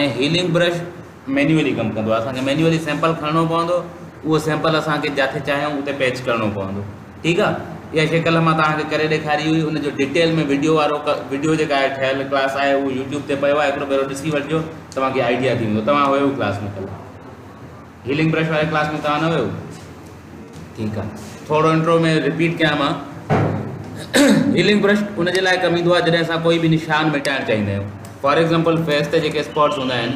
۽ Healing brush manually ڪم ڪندو آهي اسان کي مينيولي سيمپل کڻڻو پوندو اهو سيمپل اسان کي جاٿي چاهيون اتي پيچ ڪرڻو پوندو ٺيڪ آهي اها شڪل مان توهان کي ڪري ڏيکاري هئي ان جو ڊيٽيل ۾ ويڊيو وارو ويڊيو جيڪا آهي ٺهيل ڪلاس آهي اهو يوٽيوب تي پيو آهي هڪڙو ڀيرو ڏسي وٺجو توهان کي آئيڊيا ٿي ويندو توهان هيو ڪلاس ۾ ڪل هيلنگ برش واري ڪلاس ۾ توهان نه ويو ٺيڪ آ ٿورو انٽرو ۾ رپيٽ ڪيان مان هيلنگ برش ان جي لاء ڪم ايندو آ جڏهن اسان ڪوئي به نشان مٽائڻ چاهيندا آهيون فار ايگزامپل فيس تي جيڪي اسپاٽس هوندا آهن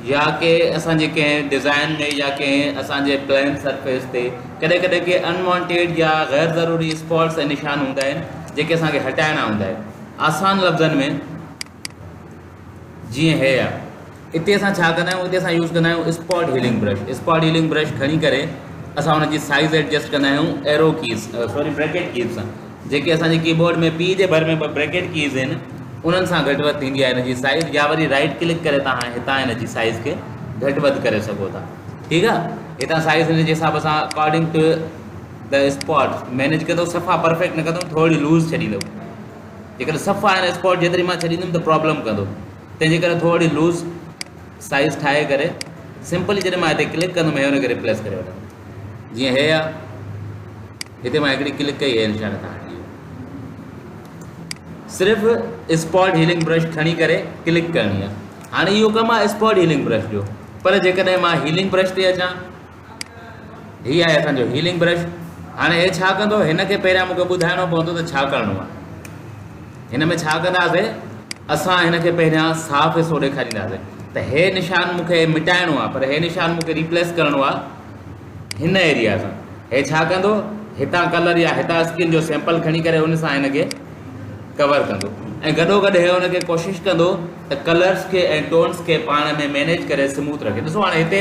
يا ڪي اسان جي ڪنهن ڊيزائن ۾ يا ڪنهن اسان جي پلين سرفيس تي ڪڏهن ڪڏهن ڪي انوانٽيڊ يا غير ضروري اسپاٽس ۽ نشان هوندا آهن جيڪي اسان کي هٽائڻا هوندا آهن آسان لفظن ۾ جيئن هيء آهي. اتي اسان ڇا ڪندا آهيون، اتي اسان يوز ڪندا آهيون spot healing brush. Spot healing brush کڻي ڪري اسان ان جي سائيز ايڊجسٽ ڪندا آهيون arrow keys sorry bracket keys سان. جيڪي اسان جي ڪيبورڊ ۾ پي جي ڀر ۾ ٻه بريڪيٽ ڪيز آهن انهن سان گهٽ وڌ ٿيندي آهي ان جي سائيز يا وري رائيٽ ڪلڪ ڪري توهان هتان ان جي سائيز کي گهٽ وڌ ڪري سگهو ٿا ٺيڪ آهي هتان سائيز ان جي حساب سان اڪارڊنگ ٽو ته اسپاٽ مينيج ڪندو صفا پرفيڪٽ نه ڪندو ٿورڙي لوز ڇڏيندو جيڪڏهن صف آن اسپاٽ جيتري مان ڇڏيندم ته پرابلم ڪندو تنهن جي ڪري ٿورڙي لوز سائيز ٺاهي ڪري سمپلي جڏهن مان هتي ڪلڪ ڪندم هي هن کي ريپليس ڪري وٺندم جيئن هي آ هتي مان هڪڙي ڪلڪ ڪئي هي نشان کان هٽجي صرف اسپاٽ هيلنگ برش کڻي ڪري ڪلڪ ڪرڻي آ هاڻي اهو ڪم آ اسپاٽ هيلنگ برش جو پر جيڪڏهن مان هيلنگ برش تي اچان هي آهي اسان جو هيلنگ برش هاڻي هي ڇا ڪندو هن کي پهريان مونکي ٻڌائڻو پوندو ته ڇا ڪرڻو آهي هن ۾ ڇا ڪنداسي اسان هن کي پهريان صاف حصو ڏيکارينداسي ته هي نشان مونکي مٽائڻو آهي پر هي نشان مونکي ريپليس ڪرڻو آهي هن ايريا سان هي ڇا ڪندو هتان ڪلر يا هتان اسڪن جو سيمپل کڻي ڪري ان سان هن کي ڪور ڪندو ۽ گڏو گڏ هي هن کي ڪوشش ڪندو ته ڪلرس کي ۽ ٽونس کي پاڻ ۾ مينيج ڪري سموٿ رکي ڏسو هاڻي هتي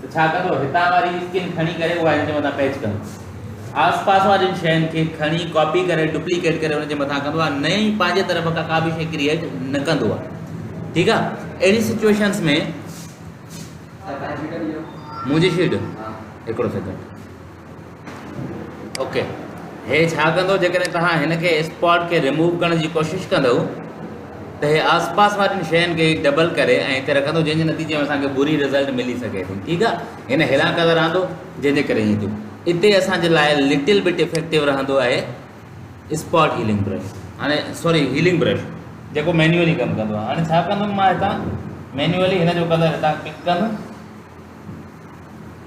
ته ڇا ڪندو؟ هتان واري اسڪن کڻي ڪري اها ان جي مٿان پيچ ڪندو. آس پاس وارين شين کي کڻي ڪاپي ڪري ڊپليڪيٽ ڪري ان جي مٿان ڪندو آهي نئين پنهنجي طرف کان ڪا به شيء ڪريئيٽ نه ڪندو آهي ٺيڪ آهي اهڙي سچويشنس ۾ منهنجي شيٽ هڪڙو سيڪنڊ اوڪي هي ڇا ڪندو جيڪڏهن توهان هن کي اسپاٽ کي ريموو ڪرڻ جي ڪوشش ڪندو ته هي آس پاس وارين شين کي ڊبل ڪري ۽ هتي رکندو جنهن جي نتيجي ۾ اسان کي بري رزلٽ ملي سگهي ٿي ٺيڪ آهي هن هيلان ڪندو رهندو جنهن جي ڪري ائين ٿيو اتي اسان جي لاء لٽل بٽ افيڪٽو رهندو آهي اسپاٽ هيلنگ برش هاڻي سوري هيلنگ برش جيڪو مينوئلي ڪم ڪندو آهي هاڻي ڇا ڪندم مان هتان مينوئلي هن جو ڪلر هتان پڪ ڪندم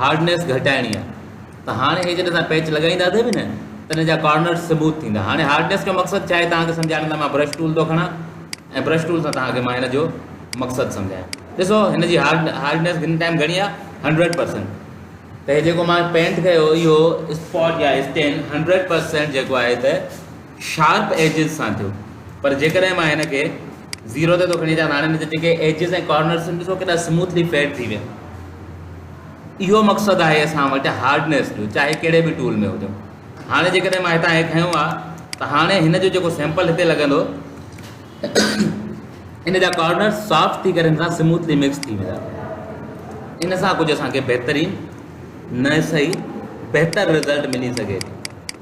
هارڊنيس گهٽائڻي آهي ته هاڻي هي جڏهن اسان پيچ لڳائيندا ٿي به نه تڏهن جا ڪارنرز سموٿ ٿيندا هاڻي هارڊنيس جو مقصد ڇا آهي توهان کي سمجهائڻ لاء مان برش ٽول ٿو کڻان ۽ برش ٽول سان توهان کي مان هن جو مقصد سمجهايان ڏسو هن جي هارڊ هارڊنيس هن ٽائم گهڻي آهي هنڊريڊ پرسنٽ ته هي جيڪو مان پينٽ ڪيو اهو اسپاٽ يا اسٽين هنڊريڊ پرسنٽ جيڪو آهي ته شارپ ايجز سان ٿيو پر جيڪڏهن مان هن کي زيرو تي ٿو کڻي اچان هاڻي هن جا جيڪي ايجز ۽ ڪارنرز آهن ڏسو ڪيڏا سموٿلي فيڊ ٿي ويا اهو مقصد آهي اسان وٽ هارڊنيس جو چاهي ڪهڙي به ٽول ۾ هجو هاڻي جيڪڏهن مان هتان هي کنيو آ ته هاڻي هن جو جيڪو سيمپل هتي لڳندو ان جا ڪارنر سافٽ ٿي ڪري هن سان سموٿلي مڪس ٿي ويندا ان سان ڪجهه اسانکي بهترين نه صحيح بهتر رزلٽ ملي سگهي ٿي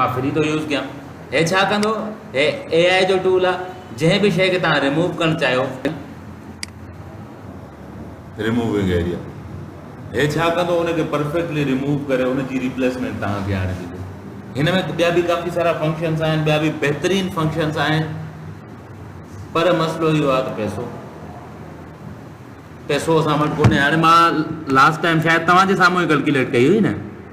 مان فري ٿو يوز ڪيان هي ڇا ڪندو هي اي آئي جو ٽول آ جنهن به شي کي تان ريموو ڪرڻ چاهيو ريموونگ ايريا هي ڇا ڪندو ان کي پرفيڪٽلي ريموو ڪري ان جي ريپليسمينٽ تان کي آڻي ڏيندو هن ۾ ٻيا به ڪافي سارا فنڪشنس آهن ٻيا به بهترين فنڪشنس آهن پر مسئلو اهو آ ته پيسو پيسو اسان وٽ ڪونهي هاڻي مان لاسٽ ٽائم شايد توهان جي سامهون ئي ڪلڪيوليٽ ڪئي هئي نه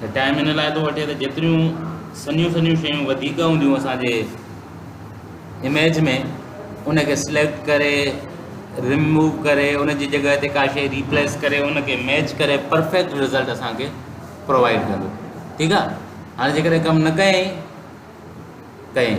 ته ٽائيم ان لاء ٿو وٺي ته جيتريون سنيون سنيون شيون وڌيڪ هونديون اسان جي اميج ۾ ان کي سليڪٽ ڪري رموو ڪري ان جي جڳهه تي ڪا شيء ريپليس ڪري ان کي ميچ ڪري پرفيڪٽ رزلٽ اسان کي پرووائڊ ڪندو ٺيڪ آ هاڻي جيڪڏهن ڪم نه ڪيائين ڪيائين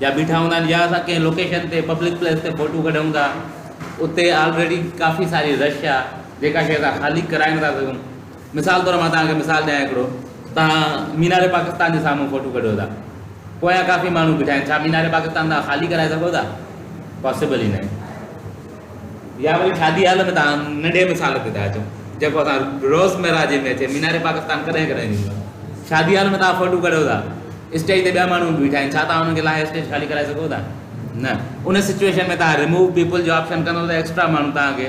جا بيٺا هوندا آهن يا اسان ڪنهن لوڪيشن تي پبلڪ پليس تي فوٽو ڪڍون ٿا اتي آلريڊي ڪافي ساري رش آ جيڪا شي اسان خالي ڪرائي نٿا سگهون مثال طور مان توهان کي مثال ڏيان هڪڙو توهان مينار پاڪستان جي سامهون فوٽو ڪڍو ٿا پويان ڪافي ماڻهو بيٺا آهن ڇا مينار پاڪستان توهان خالي ڪرائي سگهو ٿا پاسبل ئي ناهي يا وري شادي هال ۾ توهان ننڍي مثال تي ٿا اچو جيڪو اسان روزمره جي ۾ اچي مينار پاڪستان ڪڏهن ڪڏهن ڏيندو آهي شادي هال ۾ توهان فوٽو ڪڍو ٿا اسٽيج تي ٻيا ماڻهو به بيٺا آهن ڇا توهان انهن کي لاهي اسٽيج خالي ڪرائي سگهو ٿا نه ان سچويشن ۾ توهان ريموو پيپل جو آپشن ڪندو ته ايڪسٽرا ماڻهو توهان کي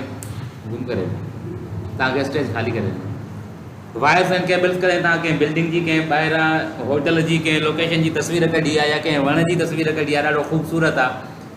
گم ڪري توهان کي اسٽيج خالي ڪري وائرس اینڈ ڪيبلس ڪڏهن توهان کي بلڊنگ جي ڪنهن ٻاهران هوٽل جي ڪنهن لوڪيشن جي تصوير ڪڍي آهي يا ڪنهن وڻ جي تصوير ڪڍي آهي ڏاڍو خوبصورت آهي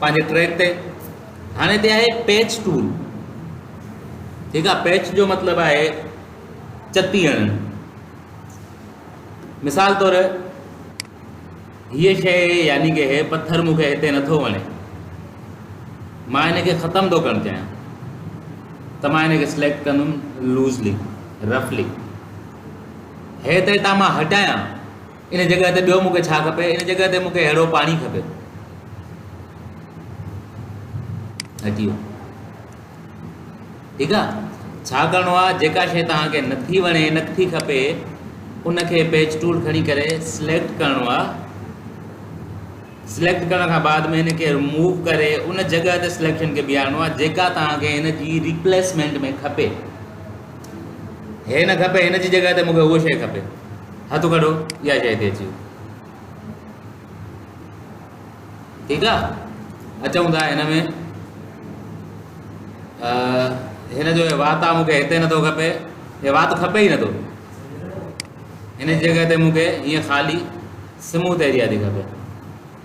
پنهنجي ٽريڪ تي هاڻي تي آهي پيچ ٽول ٺيڪ آ پيچ جو مطلب آهي چتي هڻ مثال طور هي شيء يعني ڪي هي پٿر مون کي هتي نٿو وڻي مان هن کي ختم ٿو ڪرڻ چاهيان ته مان هن کي سليڪٽ ڪندم لوزلي رفلي هي تي تان مان هٽايان ان جڳهه تي ٻيو مون کي ڇا کپي؟ ان جڳهه تي مون کي ههڙو پاڻي کپي. هٽيو. ٺيڪ آ ڇا ڪرڻو آ جيڪا شيء توهان کي نٿي وڻي نٿي کپي ان کي پيج ٽول کڻي ڪري سليڪٽ ڪرڻو آ سليڪٽ ڪرڻ کان بعد ۾ ان کي رموو ڪري ان جڳهه تي سليڪشن کي بيهارڻو آ جيڪا توهان کي ان جي ريپليسمينٽ ۾ کپي هي نه کپي هن جي جڳهه تي مونکي هو شيء کپي هٿ کڻو اها شيء تي اچي ٺيڪ آ اچون ٿا هن ۾ هن جو وات آ مونکي هتي نٿو کپي هي وات کپي ئي نٿو هن جي جڳهه تي مونکي هيئن خالي سموٿ ايريا ٿي کپي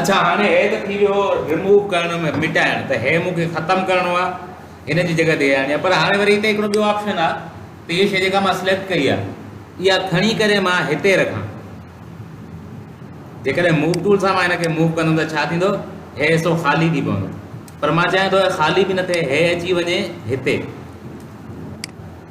اڇا هاڻي هي ته ٿي ويو رموو ڪرڻ ۾ مٽائڻ ته هي مون کي ختم ڪرڻو آ هن جي جڳه تي هي آڻي آ پر هاڻي وري هتي هڪڙو ٻيو آپشن آ ته هي شي جيڪا مان سليڪٽ ڪئي آ اها کڻي ڪري مان هتي رکان جيڪڏهن موو ٽول سان مان هن کي موو ڪندم ته ڇا ٿيندو هي حصو خالي ٿي پوندو پر مان چاهيان ٿو هي خالي به نه ٿئي هي اچي وڃي هتي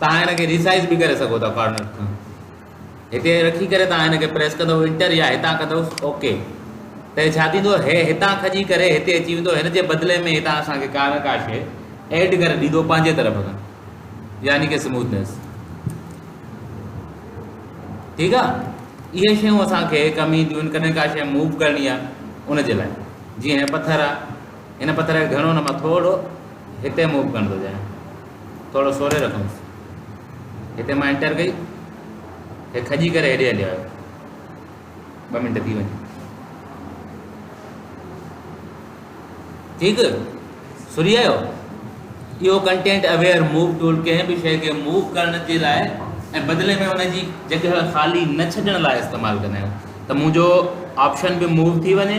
توهان هن کي ريسائيز به ڪري سگهو ٿا فارميٽ کان هتي رکي ڪري توهان هن کي پريس ڪندو انٽر يا هتان ڪندو اوڪي ته ڇا ٿيندو هي هتان کڄي ڪري هتي اچي ويندو هن جي بدلي ۾ هتان اسان کي ڪار ڪا شي ايڊ ڪري ڏيندو پنهنجي طرف کان يعني ڪي سموٿنس ٺيڪ آ اهي شيون اسان کي ڪم اينديون آهن ڪڏهن ڪا شي موو ڪرڻي آ ان جي لاء جيئن هي پٿر آ هن پٿر کي گهڻو نه مان ٿورو هتي موو ڪرڻ ٿو چاهيان ٿورو سوري رکندس. هتي مان انٽر ڪئي. هي کڄي ڪري هيڏي هليو آيو. ٻه منٽ ٿي وڃن. ٺيڪ سري آيو. اهو ڪنٽينٽ اويئر موو ٽول ڪنهن به شيء کي موو ڪرڻ جي لاء ۽ بدلي ۾ ان جي جڳهه خالي نه ڇڏڻ لاء استعمال ڪندا آهيون ته منهنجو آپشن به موو ٿي وڃي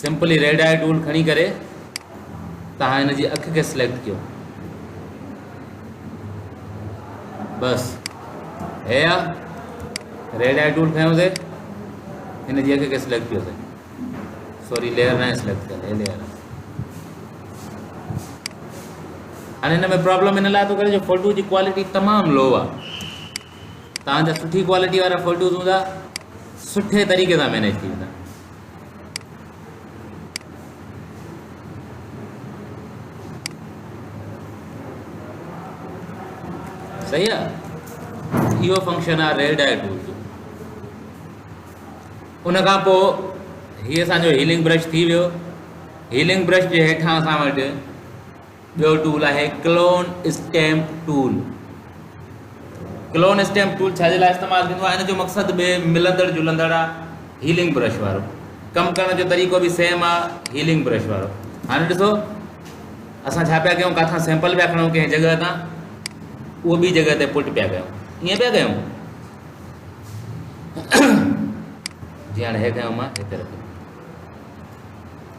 سمپلي ريڊ آئي ٽول کڻي ڪري توهان هن جي اک کي سليڪٽ ڪيو بس هي آ ريڊ آئي ٽول کيو سي هن جي اک کي سليڪٽ ڪيو سي سوري ليئر نه سليڪٽ ڪيل هي ليئر هن هن ۾ پرابلم ان لاء ٿو ڪري جو فوٽو جي ڪوالٽي تمام لو آ تان جا سٺي ڪوالٽي وارا فوٽوز هوندا سٺي طريقي سان مينيج ٿي ويندا صحيح آ اهو فنڪشن آ ريل ڊائل ٽول جو ان کان پوء هي اسان جو هيلنگ برش ٿي ويو هيلنگ برش جي هيٺان اسان وٽ ٻيو ٽول آهي clone stamp tool clone stamp tool ڇا جي لاء استعمال ٿيندو آهي ان جو مقصد به ملندڙ جلندڙ آ هيلنگ برش وارو ڪم ڪرڻ جو طريقو به سيم آ هيلنگ برش وارو هاڻي ڏسو اسان ڇا پيا ڪيون ڪاٿان سيمپل پيا کڻو ڪنهن جڳهه تان اهو ٻي جڳهه تي پٽ پيا ڪيون ائين پيا ڪيون جي هاڻي هي کيون مان هتي رکيون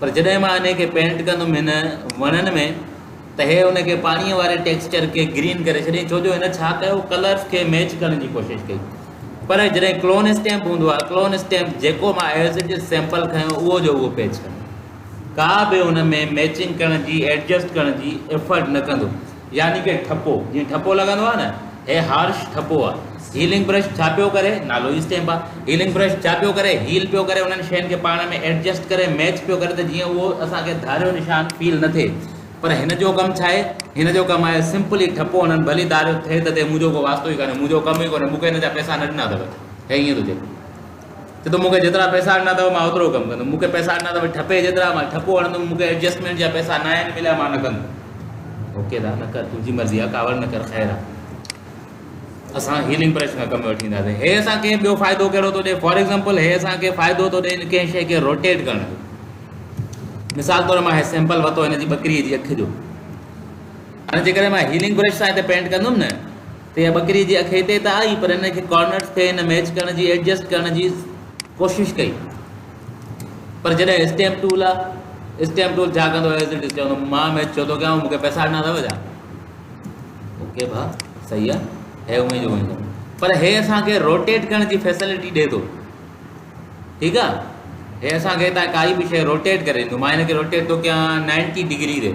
پر جڏهن مان انهي کي پينٽ ڪندم هن وڻن ۾ ته هي ان کي پاڻي واري ٽيڪسچر کي گرين ڪري ڇڏين ڇو جو هن ڇا ڪيو ڪلرز کي ميچ ڪرڻ جي ڪوشش ڪئي پر جڏهن ڪلون اسٽيمپ هوندو آهي ڪلون اسٽيمپ جيڪو مان ايز اٽ از سيمپل کنيو اهو جو اهو پيچ ڪندو ڪا به ان ۾ ميچنگ ڪرڻ جي ايڊجسٽ ڪرڻ جي ايفرٽ نه ڪندو يعني ڪي ٺپو، جيئن ٺپو لڳندو آهي نه، هي هارش ٺپو آهي. هيلنگ برش ڇا پيو ڪري؟ نالو ئي اسٽيمپ آهي. هيلنگ برش ڇا پيو ڪري؟ هيل پيو ڪري، انهن شين کي پاڻ ۾ ايڊجسٽ ڪري، ميچ پيو ڪري ته جيئن اهو اسان کي ڌاريو نشان فيل نه ٿئي. پر هن جو ڪم ڇا آهي؟ هن جو ڪم آهي سمپلي ٺپو هڻڻ، ڀلي ڌاريو ٿئي ته ٿئي، مون جو ڪو واسطو ئي ڪانهي، مون جو ڪم ئي ڪونهي، مون کي هن جا پئسا نه ڏنا اٿس، هي ائين ٿو چئي. ڇو ته مون کي جيترا پئسا ڏنا اٿو مان اوترو ڪم ڪندم، مون کي پئسا ڏنا اٿو ٺپي جيترا مان ٺپو هڻندم، مون کي ايڊجسٽمينٽ جا پئسا ناهن مليا مان نه ڪندم. اوڪي ڌاء نه ڪر تنهنجي مرضي آهي ڪاوڙ نه ڪر خير آهي اسان هيلنگ پرش کان ڪم وٺي اينداسين هي اسان کي ٻيو فائدو ڪهڙو ٿو ڏي فار ايگزامپل هي اسان کي فائدو ٿو ڏي ڪنهن شي کي روٽيٽ ڪرڻ جو مثال طور مان هي سيمپل ورتو هن جي ٻڪريء جي اک جو هاڻي جيڪڏهن مان هيلنگ برش سان هتي پينٽ ڪندم نه تي ٻڪري جي اک هتي ته آئي پر ان کي ڪارنرز تي نه ميچ ڪرڻ جي ايڊجسٽ ڪرڻ جي ڪوشش ڪئي پر جڏهن اسٽيمپ ٽول آ اسٽيمپ ٽول ڇا ڪندو ايز اٽ از چوندو مان ميچ ڇو ٿو ڪيان مونکي پئسا ڏنا اٿو ڇا اوڪي ڀا صحيح آ هي اوئين جو اوئين پر هي اسان کي روٽيٽ ڪرڻ جي فيسلٽي ڏي ٿو ٺيڪ آ هي اسان کي هتان ڪائي به شي روٽيٽ ڪري ڏيندو مان هن کي روٽيٽ ٿو ڪيان نائنٽي ڊگري تي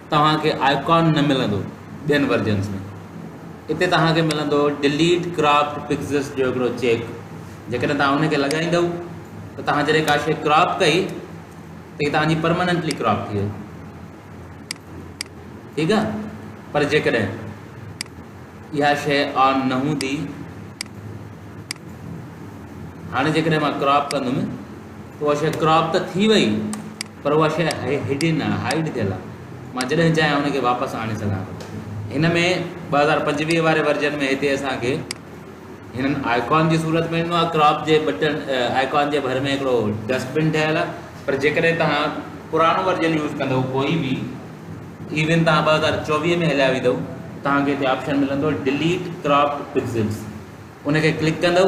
توهان کي آئيڪان نه ملندو ٻين ورجنس ۾ اتي توهان کي ملندو ڊليٽ ڪراپڊ پڪسلس جو هڪڙو چيڪ جيڪڏهن توهان ان کي لڳائيندو ته توهان جڏهن ڪا شيء ڪراپ ڪئي ته هي توهان جي پرماننٽلي ڪراپ ٿي وئي ٺيڪ آ پر جيڪڏهن اها شيء آن نه هوندي هاڻي جيڪڏهن مان ڪراپ ڪندم ته اها شيء ڪراپ ته ٿي وئي پر اها شيء هيڊن آهي، هائيڊ ٿيل آهي، مان جڏهن چاهيان ان کي واپس آڻي سگهان ٿو. هن ۾ ٻه هزار پنجويهه واري ورجن ۾ هتي اسان کي هنن آئيڪان جي صورت ۾ ڏنو آهي، ڪراپ جي بٽن آئيڪان جي ڀر ۾ هڪڙو ڊسٽ بن ٺهيل آهي، پر جيڪڏهن توهان پراڻو ورجن يوز ڪندئو ڪوئي به ايون توهان ٻه هزار چوويهه ۾ هليا ويندئو توهان کي هتي آپشن ملندو ڊليٽ ڪراپڊ پڪسلز ان کي ڪلڪ ڪندئو،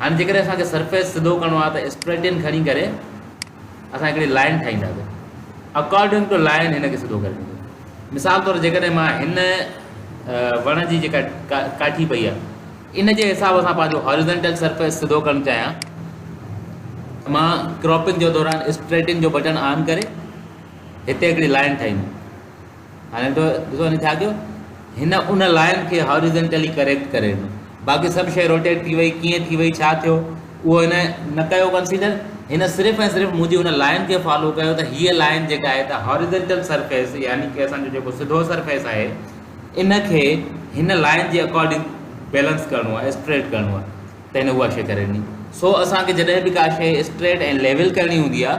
هاڻي جيڪڏهن اسان کي سرفيس سڌو ڪرڻو آهي ته اسپريٽين کڻي ڪري اسان هڪڙي لائن ٺاهينداسين اڪارڊنگ ٽو لائن هن کي سڌو ڪري ڏيندو مثال طور جيڪڏهن مان هن وڻ جي جيڪا ڪاٺي پئي آهي ان جي حساب سان پنهنجو هاريزنٽل سرفيس سڌو ڪرڻ چاهيان مان ڪراپنگ جو دوران اسپريٽين جو بٽن آن ڪري هتي هڪڙي لائن ٺاهيندو هاڻي ته ڏسو هن ڇا ڪيو هن ان لائن کي هاريزنٽلي ڪريڪٽ ڪري ڏنو باقي سڀ شيء روٽيٽ ٿي وئي ڪيئن ٿي وئي ڇا ٿيو اهو هن نه ڪيو ڪنسيڊر هن صرف ۽ صرف منهنجي ان لائن کي فالو ڪيو ته هيء لائن جيڪا آهي ته هاريزنٽل سرفيس يعني ڪي اسان جو جيڪو سڌو سرفيس آهي ان کي هن لائن جي اڪارڊنگ بيلنس ڪرڻو آهي اسٽريٽ ڪرڻو آهي ته هن اها شيء ڪري ڏني سو اسان کي جڏهن به ڪا شيء اسٽريٽ ۽ ليول ڪرڻي هوندي آهي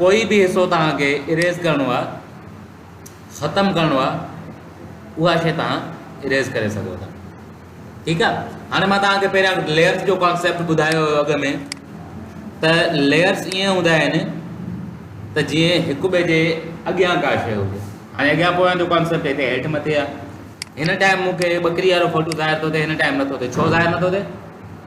ڪوئي به حصو توهان کي Erase ڪرڻو آهي ختم ڪرڻو آهي اها شي توهان Erase ڪري سگهو ٿا ٺيڪ آهي هاڻي مان توهان کي پهريان Layers جو ڪانسيپٽ ٻڌايو هو اڳ ۾ ته Layers ائين هوندا آهن ته جيئن هڪ ٻئي جي اڳيان ڪا شي هجي هاڻي اڳيان پويان جو ڪانسيپٽ هتي هيٺ مٿي آهي هن ٽائيم مونکي ٻڪري وارو فوٽو ظاهر ٿو ٿئي هن ٽائيم نٿو ٿئي ڇو ظاهر نٿو ٿئي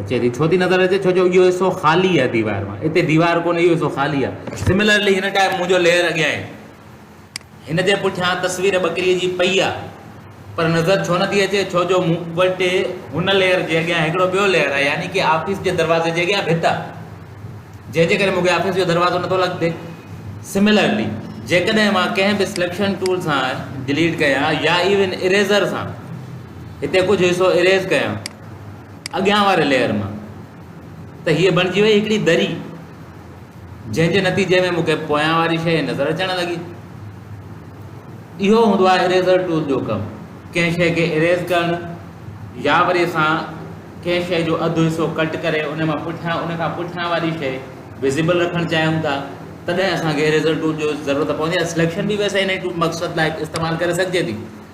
اچي ٿي ڇو ٿي نظر اچي ڇو جو اهو حصو خالي آهي ديوار مان اتي ديوار ڪونهي اهو حصو خالي آهي سملرلي هن ٽائپ مون جو ليئر اڳيان آهي هن جي پٺيان تصوير ٻڪري جي پئي آهي پر نظر ڇو نٿي اچي ڇو جو مون وٽ هن ليئر جي اڳيان هڪڙو ٻيو ليئر آهي يعني ڪي آفيس جي دروازي جي اڳيان ڀت آهي جنهن جي ڪري مون کي آفيس جو دروازو نٿو لڳندي سملرلي جيڪڏهن مان ڪنهن به سليڪشن ٽول سان ڊليٽ ڪيان يا ايون اريزر سان هتي ڪجهه حصو اريز ڪيان اڳيان واري ليئر مان ته هيء بڻجي وئي هڪڙي دري جنهن جي نتيجي ۾ مون کي پويان واري شيء نظر اچڻ لڳي اهو هوندو آهي اريزر ٽول جو ڪم ڪنهن شيء کي اريز ڪرڻ يا وري اسان ڪنهن شيء جو اڌ حصو ڪٽ ڪري ان مان پٺيان ان کان پٺيان واري شيء وزيبل رکڻ چاهيون ٿا تڏهن اسان کي اريزر ٽول جو ضرورت پوندي آهي سليڪشن به ويسي هن مقصد لاء استعمال ڪري سگهجي ٿي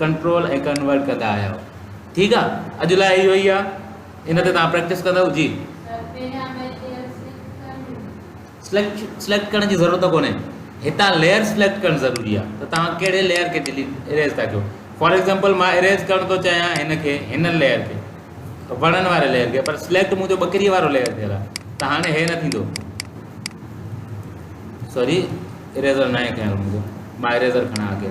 ڪنٽرول ۽ ڪنورٽ ڪندا آهيو ٺيڪ آ اڄ لاء اهو ئي آ ان تي توهان پريڪٽس ڪندو جي سليڪٽ سليڪٽ ڪرڻ جي ضرورت ڪونهي هتان ليئر سليڪٽ ڪرڻ ضروري آ ته توهان ڪهڙي ليئر کي ڊيليٽ اريز ٿا ڪيو فار ايگزامپل مان اريز ڪرڻ ٿو چاهيان هن کي هن ليئر کي وڻن واري ليئر کي پر سليڪٽ منهنجو ٻڪري وارو ليئر ٿيل آ ته هاڻي هي نه ٿيندو سوري اريزر نه کڻيو منهنجو مان اريزر کڻا اڳي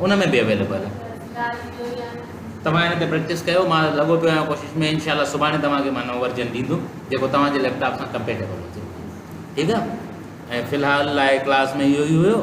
ان ۾ به اويليبل توهان ان تي پريڪٽس ڪيو مان لڳو پيو آهيان ڪوشش ۾ انشاء الله سڀاڻي توهان کي مان نئون ورجن ڏيندم جيڪو توهان جي ليپ ٽاپ سان ڪمپيٽيبل هجي ٺيڪ آهي ۽ في الحال لاء ڪلاس ۾ اهو ئي هيو